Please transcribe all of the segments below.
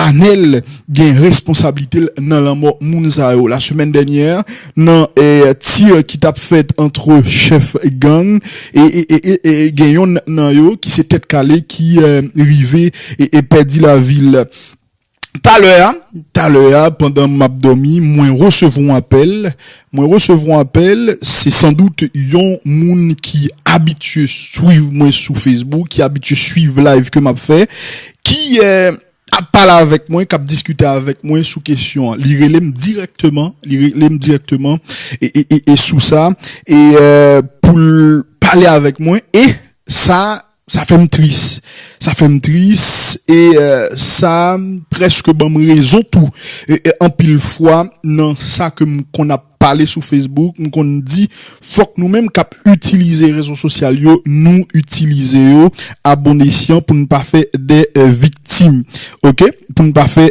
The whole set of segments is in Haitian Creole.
Anel gen responsablite l nan lanmò moun sa yo. La semèn dènyè, nan tir ki t ap fèt antre chèf gang, gen yonn nan yo ki se Tèt Kale ki rive pèdi lavi l. Talè a, talè a, pandan m ap dòmi, mwen resevwa yon apèl Mwen resevwa apèl, se san dout yon moun ki abitye swiv mwen sou Facebook, ki abitye swiv live ke map fè, ki ap pale avèk mwen, kap diskite avèk mwen sou kesyon an. Li rele m dirèkteman, li rele m dirèkteman e sou sa e poul pale avèk mwen e sa. Sa fè m tris. Sa fè m tris e sa prèske ban m rezon tou. Anpil fwa nan sa ke m konn ap pale sou Facebook, m konn di fòk nou menm k ap itilize rezo sosyal yo, nou itilize yo a bon esyan pou n pa fè de viktim. Ok. Pou n pa fè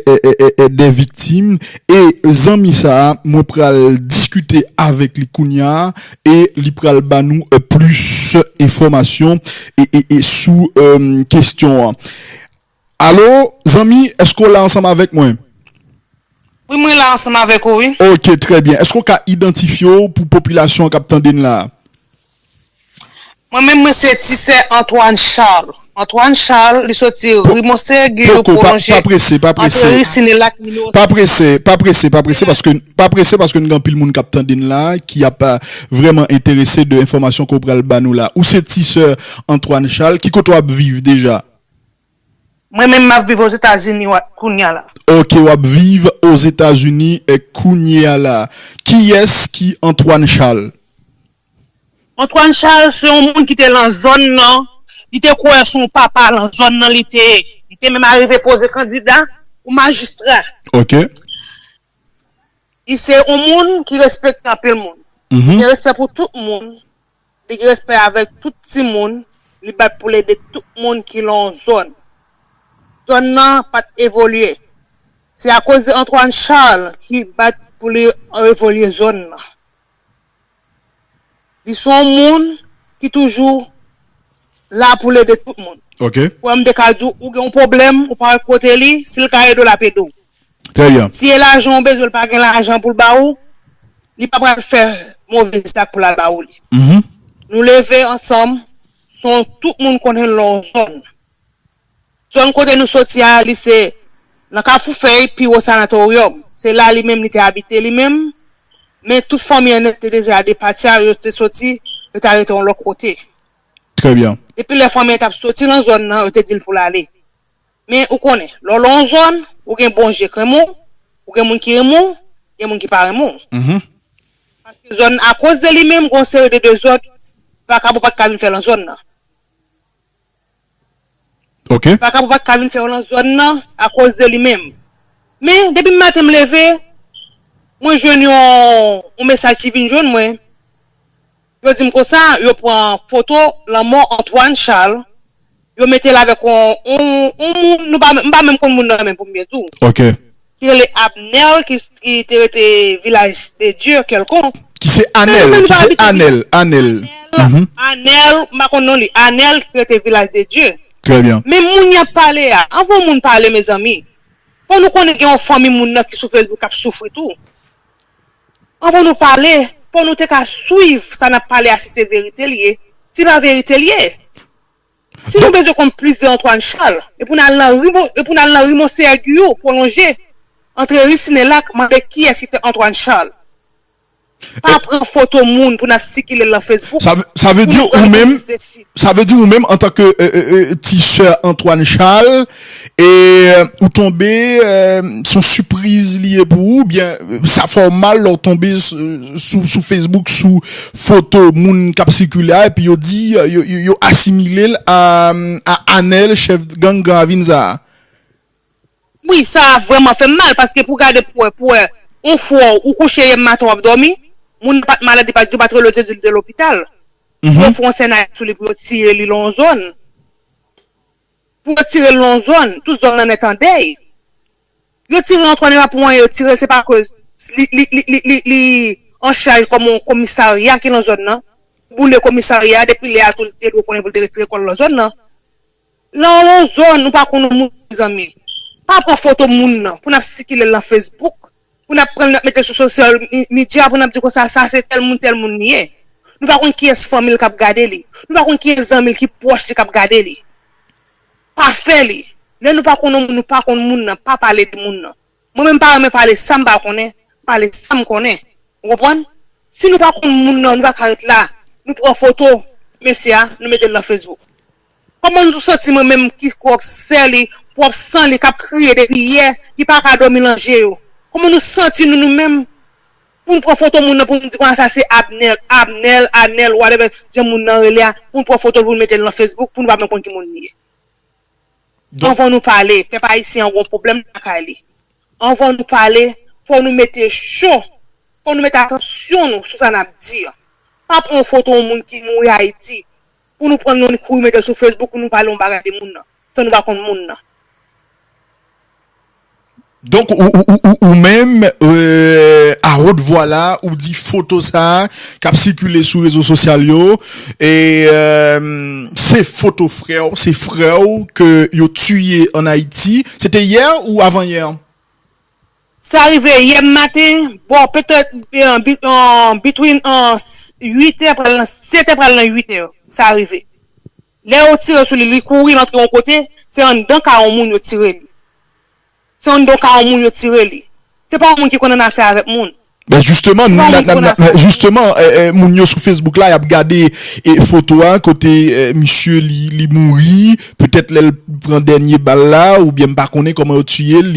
de viktim. E zanmi sa a, mwen pral diskite avèk li kounya a, e li pral ba nou plis enfòmasyon sou kestyon an. Alo zanmi eske w la ansanm avèk mwen? Wi mwen la ansanm avèk ou wi. Ok trè byen eske w ka idantifye w pou popilasyon an k ap tande n la a? Mwen menm mwen se ti sè Antoine Charles. Antoine Charles li soti ri Monseyè Giyou pwolonje antre ri Sinilak nimewo 5. Pa prese, pa prese, pa prese paske, pa prese paske nou gen anpil moun k ap tande n la ki ap vrèman enterese de enfòmasyon ke w pral ba nou la. Ou se ti sè Antoine Charles. Ki kote w ap viv deja? Mwen menm m ap viv Ozetazini kounye a la. Ok, w ap viv Ozetazini kounye a la. Kiyès ki Antoine Charles? Antoine Charles se yon moun ki te lan zòn nan, li te kwè se yon papa lan zòn nan li te ye. Li te menm arive poze kandida pou majistra. Ok. Li se yon moun ki respekte anpil moun. Li gen respè pou tout moun, li gen respè avèk tout ti moun, li bat pou l ede tout moun ki lan yon zòn. Zòn nan pa t evolye. Se akoz de Antoine Charles ki bat pou li evolye zòn nan. Li se yon moun ki toujou la pou l ede tout moun. Kwè m te ka di w ou gen yon pwoblèm ou pa wè kote li, si l ka ede w l ap ede w. Si e lajan ou bezwen l pa gen lajan pou l ba ou, li pa pral fè move zak pou l al ba ou li. Nou leve ansanm, se yon tout moun konnen lè w zòn. Zòn kote nou soti a, li se nan Kafoufèy, pi wo Sanatoryòm. Se la li menm li te abite li menm, men tout fanmi an te deja depatcha, yo te soti, yo ta rete yon lòk kote. Trè byen. Depi lè fanmi an t ap soti nan zòn nan, yo te di l pou l ale. Men, ou konnen, lè w lan yon zòn, ou gen bon je k renmen w, ou gen moun ki renmen w, gen moun ki pa renmen w. Paske zòn, akoz de li menm, gen yon seri de dezòd, vakabon pa t ka vin fè lan zòn nan. ok. Vakabon pat ka vin fè yo lan zòn nan akoz de li menm. Men depi maten m leve mwen jwenn yon mesaj ki vin jwenn mwen yo di m konsa yo pran foto lanmò Antoine Charles yo mete l avèk yon moun m pa menm konn moun nan menm pou m byen di w. Ok. ki rele Abner ki ki te rete vilaj de Dieu quelconque Ki se Anel, ki se Anel, Anel. Anel, m pa konn non li. Anel ki rete vilaj de Dieu. Trè byen. Men moun y ap pale a, anvan yon moun pale mezanmi, fò nou konnen gen yon fanmi moun nan ki sou Facebook k ap soufri tou. Anvan nou pale, fò nou te ka swiv sa n ap pale a si se verite l ye, si pa verite l ye. Si nou bezwen konn plis de Antwàn Chal, e pou n al nan ri e pou n al nan ri Monseyè Giyou, pwolonje, antre ri Sinelak, mande kiyès ki te Antwàn Chal. Pa pran foto moun pou n ap sikile l nan Facebook, Sa vle di ou menm, sa vle di ou menm antanke ti sè Antwàn Chal, E ou tonbe son sipriz li ye pou ou byen sa fè w mal lè w tonbe sou Facebook sou foto moun k ap sikile a epi yo di yo asimile l a Anèl chèf gang Gran Ravin sa a? Wi, sa vrèman fè m mal paske pou gade pou wè pou wè yon frè w ou kouche yè maten w ap dòmi moun nan pa t malad li pa t yo pa t rele w te di l te lopital pou yo fè yon sènaryo sou li pou yo tiye li lan yon zòn. Pou yo tirel non zòn, tout zòn nan nèt andèy. Yo tire Antwàn epa pou anyen yo tirel se pa koz li anchaj kòm yon komisarya ki nan zòn nan. Yo boule komisarya a depi lè a tou li te dwe konnen pou li te retire kòl nan zòn nan. Lè w nan zòn ou pa konn yon moun mezanmi pa pran foto moun nan pou nap sikilel nan Facebook. Pou nap pranl nap metel sou social media pou nap di konsa sa se tèl moun tèl moun li ye nou pa konn kiyès fanmil kap gade li nou pa konn kiyès zanmil ki pwòch li kap gade li pa fè li lè nou pa konn yon moun nou pa konn moun nan pa pale de moun nan mwen menm pa renmen pale sam pa konnen pale sam konnen ou konprann si nou pa konn moun nan nou paka ret la nou pran foto mesye a nou metel nan Facebook. Koman nou santi mwen menm ki pwòp sè li, pwòp san li kap kriye depi yè, ki pa ka dòmi lan je yo. Koman nou santi nou nou menm pou nou pran foto moun nan pou nou di konn sa se Abnel, Abnèl, Anèl whatever jan moun nan rele a, pou nou pran foto l pou nou mete l lan Facebook pou nou pa menm konn ki moun li ye. Anvan nou pale, pèp ayisyen an gon pwoblèm lakay li. Anvan nou pale, fò nou mete cho, fò nou mete atansyon nou sou sa nap di an. Pa pran yon foto yon moun ki mouri Ayiti pou nou pran yon kouri metel sou Facebook pou nou pale yon bagay de moun nan san nou pa konn moun nan. Donk ou menm a haute voix la ou di foto sa kap sikile sou rezo sosyal yo se foto frè w, se frè w ke yo tiye an Ayiti, se te yè ou avan yè? Sa rive yè maten, bò petèt between 8 è pral nan 7 è pral nan 8 è sa rive. Lè yo tire sou li, li kouri l antre yon kote, se anndan kay yon moun yo tire li. Se anndan yon kay yon moun yo tire li. Se pa yon moun ki konn annafè avèk moun. Ben jisteman, jisteman, moun yo sou Facebook la yap gade foto a kote misye li mouri, petèt lè l pran dènye bal la oubyen m pa konnen kòman yo tiye l,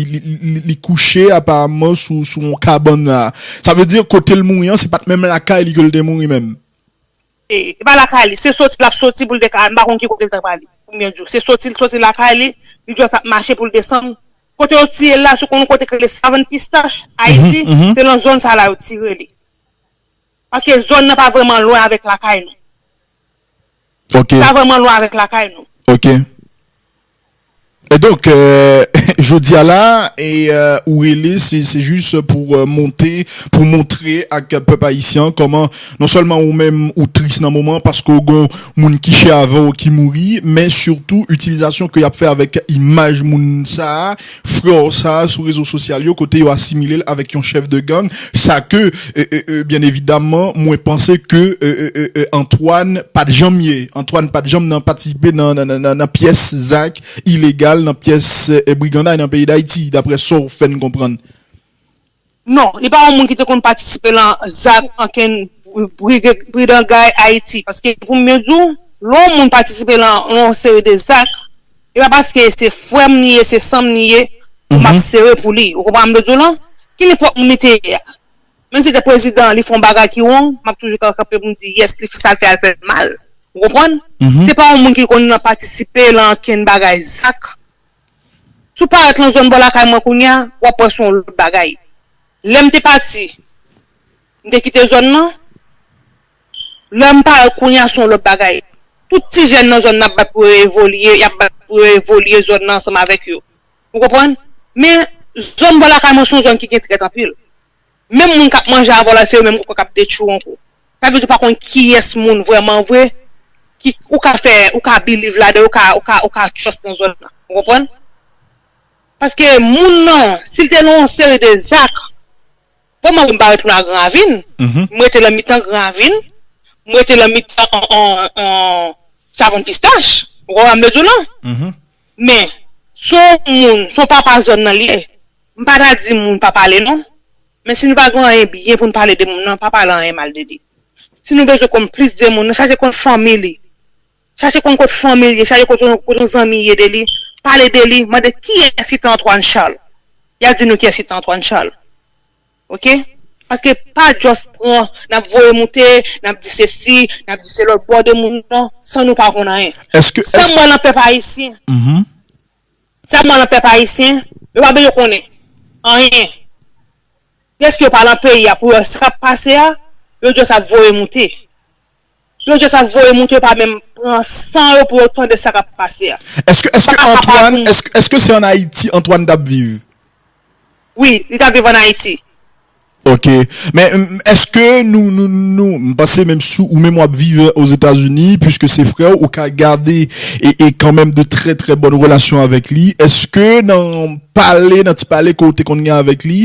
li kouche aparamman sou yon kabann la. Sa vle di kote l mouri an se pat menm lakay li ke l te mouri menm? E pa lakay li, se soti lap soti pou l dek al, m pa konn ki kote l ta prale. Pou mwen di w, se soti l soti lakay li, li just ap mache pou l desann. Kote yo tire l la, se konn yon kote ki rele Savann Pistach, Ayiti, se lan zòn sa la yo tire li. Paske zòn nan pa vrèman lwen avèk lakay nou. Li pa vrèman lwen avèk lakay nou. Ok. Donk jodi a la ou rele se jis pou monte pou montre ak pèp ayisyen an kòman non sèlman ou menm ou tris nan moman an paske ou gon moun ki chè avè w ki mouri men sitou itilizasyon ke y ap fè avèk imaj moun sa a Freo sa sou rezo sosyal yo kote yo asimilel avek yon chef de gang sa ke byen evidamman mwen panse ke Antoine pat janm ye Antoine pat janm nan patisipe nan pyes zak ilegal nan pyes briganday nan peyi dayiti daprè sow fèn konprann. Non, li pa yon moun ki te konn patisipe lan zak ankenn brigangay Ayiti. Paske pou m byen di w, lè yon moun patisipe lan yon seri de zak, e pa paske se frè m li ye, se san m li ye, pou m ap sere pou li. Ou konprann sa m vle di w lan? Ki li pwòp moun li te ye a? Menm si l te prezidan, li fè yon bagay ki wrong, m ap toujou ka kanpe pou m di, yes, li fè sa l fè a, l fè l mal. Ou konprann? Se pa yon moun ki konn patisipe lan ankenn bagay zak. Si w parèt lan zòn bò lakay mwen kounye a, w ap wè se yon lòt bagay. Lè m te pati, m te kite zòn lan, lè m parèt kounye a se yon lòt bagay. Tout ti jèn nan zòn nan ap bat pou yo evolye, y ap bat pou yo evolye zòn nan ansanm avèk yo. Ou konprann? Men, zòn bò lakay mwen se yon zòn ki gen trèt anpil. Menm moun kap manje avèw la se yo menm ou kwè kap detwiw ankò. Sa vle di ou pa konn kiyès moun vrèman vre ki ou ka fè ou ka biliv ladan yo ou ka ou ka trust nan zòn nan. Ou konprann? Paske moun nan sil te nan yon seri de zak bon mwen pa retounen a gran ravin m rete lan mitan gran ravin m rete lan mitan savon pistach ou konprann sa m vle diw lan? Men, si yon moun, si yon papa zòn nan li ye, m pa ta di moun pa pale non. Men si nou pa gen anyen byen pou nou pale de moun nan, pa pale anyen mal de li. Si nou bezwen konn plis de moun nan, chache konn fanmi li. Chache konn kot fanmi li ye, chache kot yon zanmi ye de li. Pale de li, mande kiyès ki te Antoine Charles. Y ap di nou kiyès ki te Antoine Charles. Ok paske pa just pran nap voye moute nap di sesi nap di selòt bòde moun nan san nou pa konn anyen sam wè nan pèp ayisyen sam wè nan pèp ayisyen yo pa bezwen konnen anyen deske yo pa nan peyi a pou yo wè sakap pase a yo just ap voye moute Yon jan sa voye moute yo pa menm pran san yo pou yo tande sa kap pase a. Eske eske Antwan eske eske se an Ayiti Antwan tap viv? Wi li tap viv an Ayiti. Ok men eske nou nou nou m panse menm si ou menm wap viv ozetazini puiske se frèw ou ka gade e e kanmenm de trè trè bòn relasyon avèk li eske nan pale nan ti pale ke ou te konn gen avèk li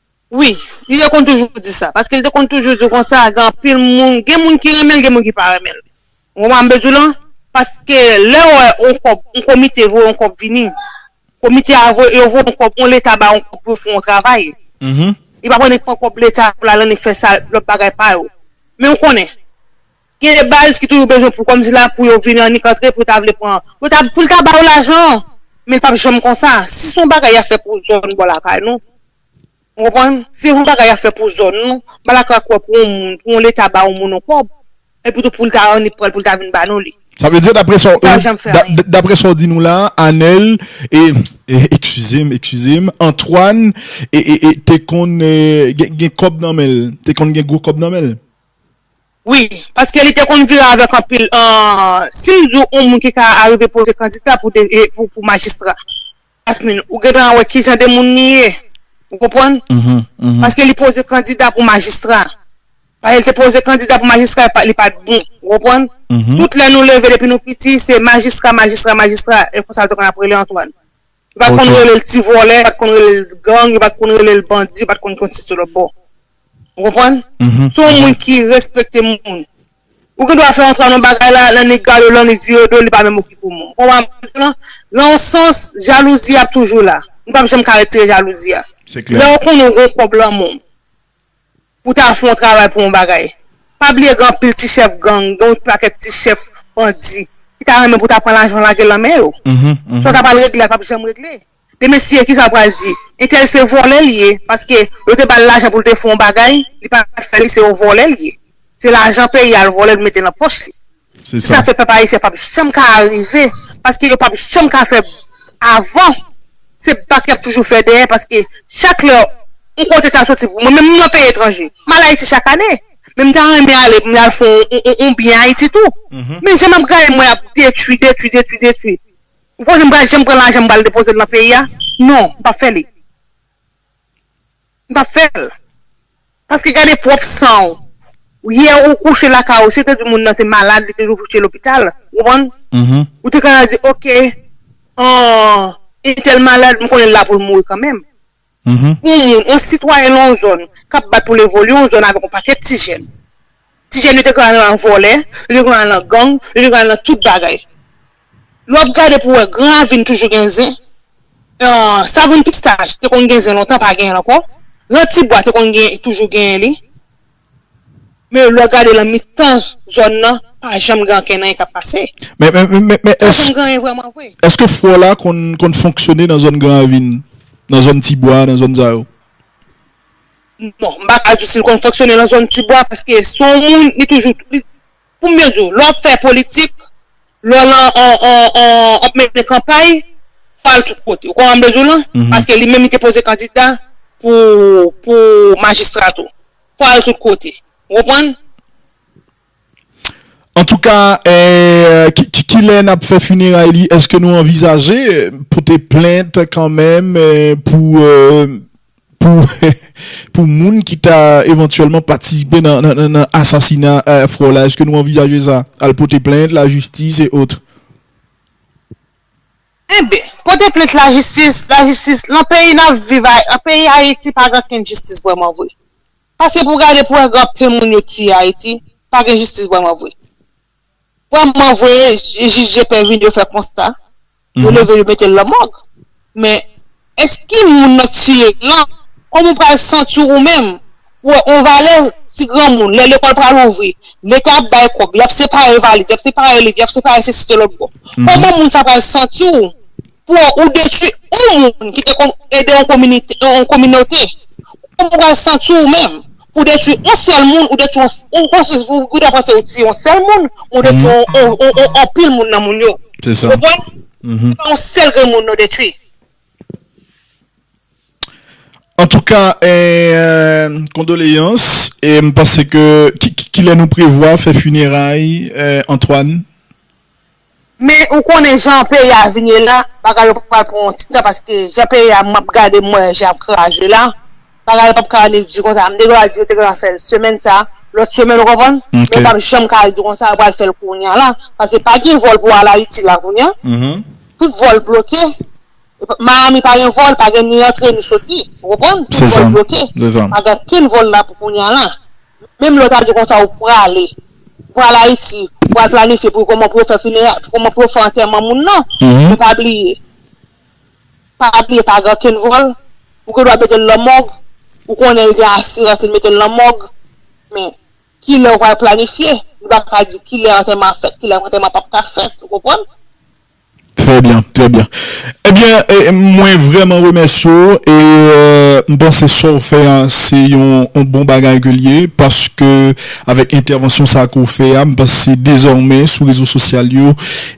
Wi, li te konn toujou di sa, paske li te konn toujou di konsa, gen anpil moun, gen moun ki renmen l, gen moun ki pa renmen l. Ou konprann sa m vle di w lan? Paske lè w wè yon kòb, yon komite voye yon kòb vini, komite a voye, yo voye yon kòb, yon leta bay yon kòb pou yo fè yon travay, li pa pran, li pran kòb leta pou l al annik fè sa, lòt bagay pa yo. Men ou konnen. Gen de baz ki toujou bezwen pou kòm si la pou yo vini annik antre pou ta vle pran, pou ta, pou l ta ba yo lajan, men l p ap janm konsa. Si s on bagay y ap fè pou zòn bò lakay nou, ou konprann, si s on bagay y ap fè pou zòn nou, m pa dakò ak wè pou on moun, pou on leta ba on moun on kòb, epi tou pou l ta annik pran l pou l ta vin ba nou li. Sa vle di, dapre sa w, dapre sa w di nou la, Anèl, e, ekskize m, ekskize m, Antwàn, e, e, e, te konn gen kòb nan men l, te konn gen gwo kòb nan men l? Wi, paske li te konn vire avèk anpil si m di w yon moun ki ka arive poze kandita pou majistra Jasmine ou gen tan wè ki jan de moun li ye ou konprann paske li poze kandida pou majistra paske li te poze kandida pou majistra li pa t bon ou konprann tout lè nou leve depi nou piti se majistra majistra majistra e konsa l te konn ap rele Antoine Yo pat konn rele l ti vòlè, yo pat konn rele l gang, yo pat konn rele l bandi, yo pat konn konn si se lòtbò. Ou konprann? Se yon moun ki respekte moun. Ou gen dwa fè yon travay nan yon bagay la, lè nèg gade w lan li vire do l, li pa menm okipe w. Ou konprann sa m di w lan? Lan yon sans, jalouzi a ap toujou la. Nou pap janm ka retire jalouzi a. Lè ou konnen ou gen kòb lan men w. pou ta fè yon travay pou yon bagay. Pa bliye gen anpil ti chèf gang, gen yon pakèt ti chèf bandi ki ta renmen pou ta pran lajan lage lan men yo. Sa yo ta pral regle a pap janm regle. Men mesye ki sa ou pral di? Entèl se vòlè li ye paske yo te ba l lajan pou l te fè yon bagay, li pa t fè li se yon vòlè li ye. Se lajan peyi a l vòlè l mete lan pòch li. Se sa fè pèp ayisyen pap janm ka arive paske yo pap janm ka fè avan se bak yap toujou fè dèyè paske chak lè yon kote ta soti pou mwen menm m nan peyi etranje m al ayiti chak ane men m ta renmen ale pou m al fè yon byen ayiti tou men jan map gade mwen ap detwi detwi detwi detwi ou panse m pral janm pran lajan m pral depoze l nan peyi a non m pap fè li. M pap fèl. Paske gade pwòp san w. Yè ou kouche lakay ou si yo te di moun nan te malad li te dwe kouche lopital ou konprann? Ou te ka di ok entèl malad m konnen l la pou l mouri kanmenm. Pou yon moun yon sitwayen nan yon zòn kap bat pou l evolye yon zòn avèk yon pakèt ti jèn. Ti jèn yo te konn al nan vòlè, yo te konn al nan gang, yo te konn al nan tout bagay. Lè w ap gade pou w wè gran ravin toujou gen zen, savon pistaj te konn gen zen lontan pa genyen l ankò, gran ti bwa te konn gen toujou genyen li. Men lè w gade nan mitan zòn nan pa janm gen ankenn anyen k ap pase. Men pa janm gen anyen vrèman vre. Eske fwò la konn fonksyone nan zòn gran ravin, nan zòn ti bwa, nan zòn sa yo? Bon, m pa ka di si l konn fonksyone lan zòn Tibwa paske se yon moun li toujou, pou m byen di w, lè w ap fè politik, lè w lan ap mennen kanpay, fò w al tout kote. Ou konprann sa m vle di w lan? Paske li menm li te poze kandida pou majistra tou. Fò w al tout kote. Ou konprann? Antouka kilè nap fè funeray li eske nou anvizaje pote plent kanmenm pou pou moun ki ta evantyèlman patisipe nan asasina frè w la eske nou anvizaje sa al pote plent lajistis e otre. Enben pote plent lajistis lajistis lan peyi nap viv a peyi ayiti pa gen okenn jistis vrèman vre. Pase pou gade pou wè gran pen moun yo tiye ayiti pa gen jistis vrèman vre vrèman vre jij je pen vin yo fè konsta yo leve yo metel nan mòg men èske ki moun nan tiye lan kòman ou pral santiw ou menm ou wè on valè ti gran moun lè lekòl pral louvri leta ap bay kòb yap separe valiz yap separe liv yap separe sesi selòt bon kòman moun sa pral santiw pou ou detwi yon moun ki te konn ede yon kominite, yon kominote, kouman ou pral santi ou menm, pou detwi yon sèl moun, ou detwi yon, ou gendwa panse ou tiye yon sèl moun, men ou detwi yon anpil moun nan moun yo. Se sa. Ou konprann? Se pa yon sèl grenn moun nou detwi. Antouka, kondoleyans, e m panse ke, kilè nou prevwa fè fineray Antoine? Men ou konnen jan peyi a vini la, bagay yo pral pran yon ti tan paske jan peyi a map gade mwen jan yap kraze la, bagay yo pap ka annik di konsa, nèg yo a di yo te gentan fèl semèn sa, lòt semèn ou konprann, men yo pap janm ka al di konsa yo pral fèl kounya la, paske pa gen vòl pou al Ayiti la kounya, tout vòl bloke. Miami pa gen vol, pa gen ni antre ni soti. Ou konprann? Tout vol bloke. Pa gen kenn vol la pou kounya la. Menm lè ou ta di konsa ou prale, ou pral Ayiti, ou pral planifye pou kòman pou yo fè finera, pou kòman pou yo fè antèman moun nan. Men pa bliye, pa bliye pa gen kenn vol. Ou gen dwa mete l lan mòg, ou konnen l gen asirans li mete l lan mòg. Men, ki lè ou pral planifye? Nou pa ka di ki lè antèman a fèt, ki lè antèman a pap ka fèt. Ou konprann? Trè byen, trè byen. Ebyen, mwen vrèman remèsye w e m panse sa w fè a se yon bon bagay ke l ye paske avèk entèvansyon sa ke w fè a m panse dezòmè sou rezo sosyal yo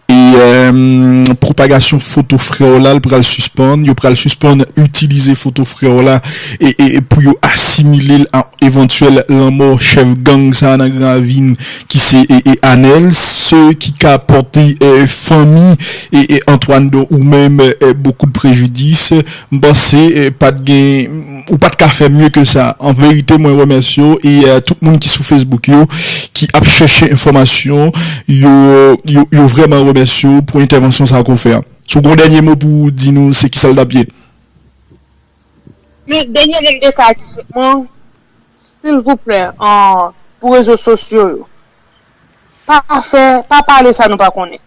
e pwopagasyon foto frè w la l pral sispann, yo pral sispann itilize foto frè w la e pou yo asimile l a evantyèl lanmò chèf gang sa nan Gran Ravin. ki se Anel se ki ka pòte fanmi Antoine don ou menm beaucoup de préjudice m panse pat gen ou pat ka fè mye ke sa an verite mwen remèsye w e tout moun ki sou Facebook yo ki ap chèche enfòmasyon yo yo vrèman remèsye w pou entèvansyon sa ke w fè an si w gen yon dènye mo pou w di nou se ki sa l tap ye? Men dènye nonb de ka disip mwen silvouplè pou rezo sosyo yo pa fè pa pale sa nou pa konnen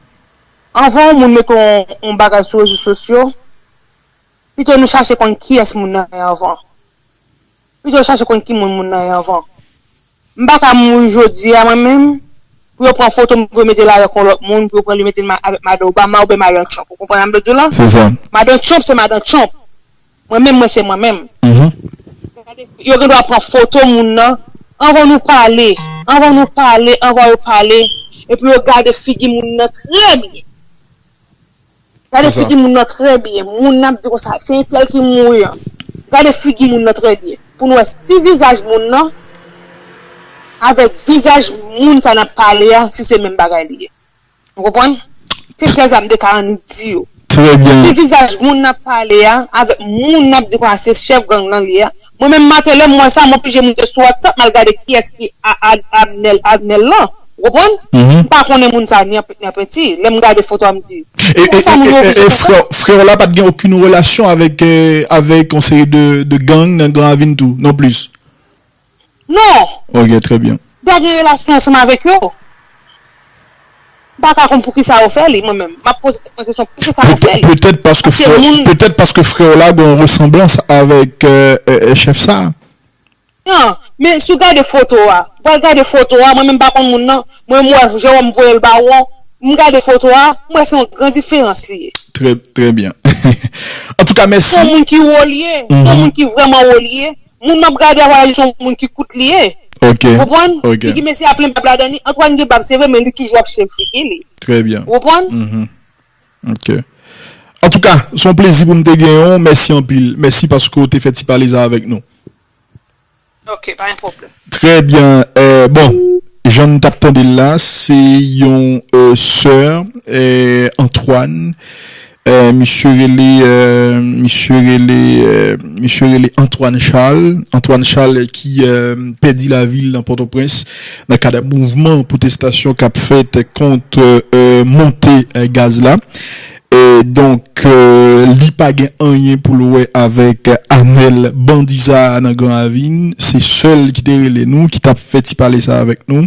anvan yon moun mete yon bagay sou rezo sosyo pito nou chache konn kiyès moun nan ye anvan pito chache konn ki moun moun nan ye anvan. M pa ka mouri jodi a mwen menm pou yo pran foto m pou yo mete l avèk yon lòt moun pou yo pran li mete l avèk madan Obama oubyen madan Trump ou konprann sa m vle di w la? Madan Trump se madan Trump mwen menm mwen se mwen menm yo gen dwa pran foto moun nan anvan nou pale anvan nou pale anvan yo pale epi yo gade figi moun nan trè byen. Gade figi moun nan trè byen. Moun nan ap di konsa, se entèl ki mouri an. Gade figi moun nan trè byen. Pou nou wè si vizaj moun nan avèk vizaj moun sa n ap pale a, si se menm bagay li ye. Ou konprann? Se sa zam de ka annik di yo. Si vizaj moun n ap pale a avèk moun n ap di konsa se chèf gang nan li ye a, Mwen menm maten lèm wè sa m oblije moute sou whatsapp mal gade kiyès ki Abnel Abnel lan ou konprann m pa konnen moun sa ni anpèt ni anpèti lèm gade foto a m di konsa moun yo oblije konsa. E freo la pat gen okun relasyon avèk avèk yon seri de gang nan gran ravin tou non plis? Non. Ok trè byen. M pa gen relasyon ansanm avèk yo. M pa ka konn poukisa yo fè li mwen menm. M ap poze tèt mwen kesyon poukisa yo fè li. Petèt paske frè petèt paske frè w la gen yon resanblans avèk chèf sa a. Nan, men si w gade foto a, ou al gade foto a, mwen menm m pa konn moun nan, mwen m wè Jewòm voye l ba ou an, m gade foto a, m wè se yon gran diferans li ye. Trè, trè byen. Antouka mèsi. Se yon moun ki wo li ye, se yon moun ki vrèman wo li ye. Moun map gade a wè li son moun ki kout li ye ou konprann figi mesye a plen bab ladan li Antoine gen bab se vre men li toujou ap swiv figi li ou konprann. Ok antouka son plezi poum te genyen w mèsi anpil mèsi paske w te fè ti pale sa avèk nou. Ok pa gen pwoblèm. Trè byen bon jan nou tap tande l la se yon sè Antoine Misye rele Misye rele Misye rele Antoine Charles Antoine Charles ki pèdi lavi l nan Pòtoprens nan kad mouvman pwotestasyon k ap fèt kont monte gaz la Donk li pa gen anyen pou l wè avèk Anèl bandi sa a nan Gran Ravin Se sèl ki te rele nou ki t ap fè ti pale sa a avèk nou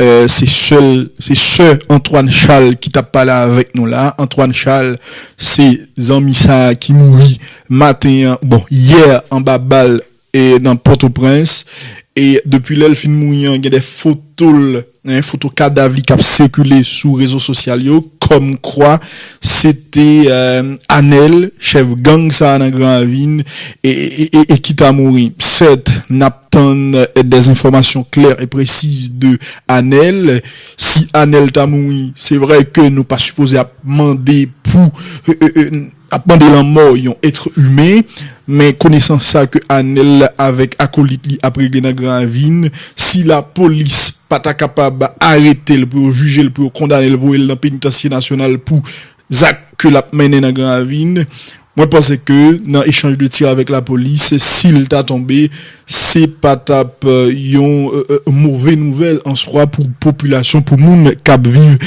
Se sèl se sè Antoine Charles ki tap pale avèk nou la Antoine Charles se zanmi sa ki mouri maten an bon yè anba bal nan pòtoprens e depi lèl fin mouri an gen de fotol foto kadav li kap sikile sou rezo sosyal yo kòm kwa se te Anèl chèf gang sa nan gran ravin e ki ta mouri sèt nap. tann des enfòmasyon klè e presiz de Anel, si Anel ta mouri se vrè ke nou pa sipoze ap mande pou ap mande lanmò yon etre imen, men konesan sa ke Anel avèk akolit li ap regle nan gran ravin, si la polis pa ta kapab aretel pou yo jijel pou yo kondanel voyel nan penitansye nasyonal pou Zak ke lap mennen nan gran ravin, mwen panse ke nan echanj de tir avèk la polis, sil ta tonbe, se pa tap yon move nouvèl an swa pou popilasyon, pou moun kap viv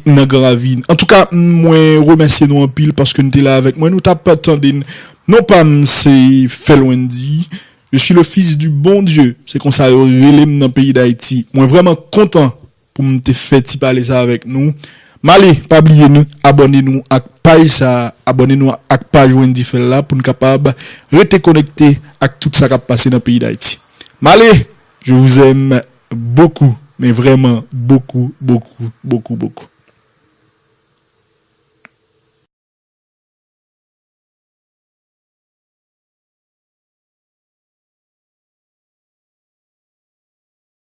nan gran ravin. Antouka mwen remèsye nou anpil paske nou te la avèk mwen, nou tap tande n. Non pam se Felwendy, je suis le fils du bon Dieu, se konsa yo rele m nan peyi Dayiti. Mwen vrèman kontan pou m te fè ti pale sa avèk nou m ale pa bliye nou abòne nou ak paj sa abòne nou ak paj Wendy Phel la pou n kapab rete konekte ak tout sa k ap pase nan peyi Dayiti m ale je vous aime beaucoup men vrèman bokou bokou bokou bokou.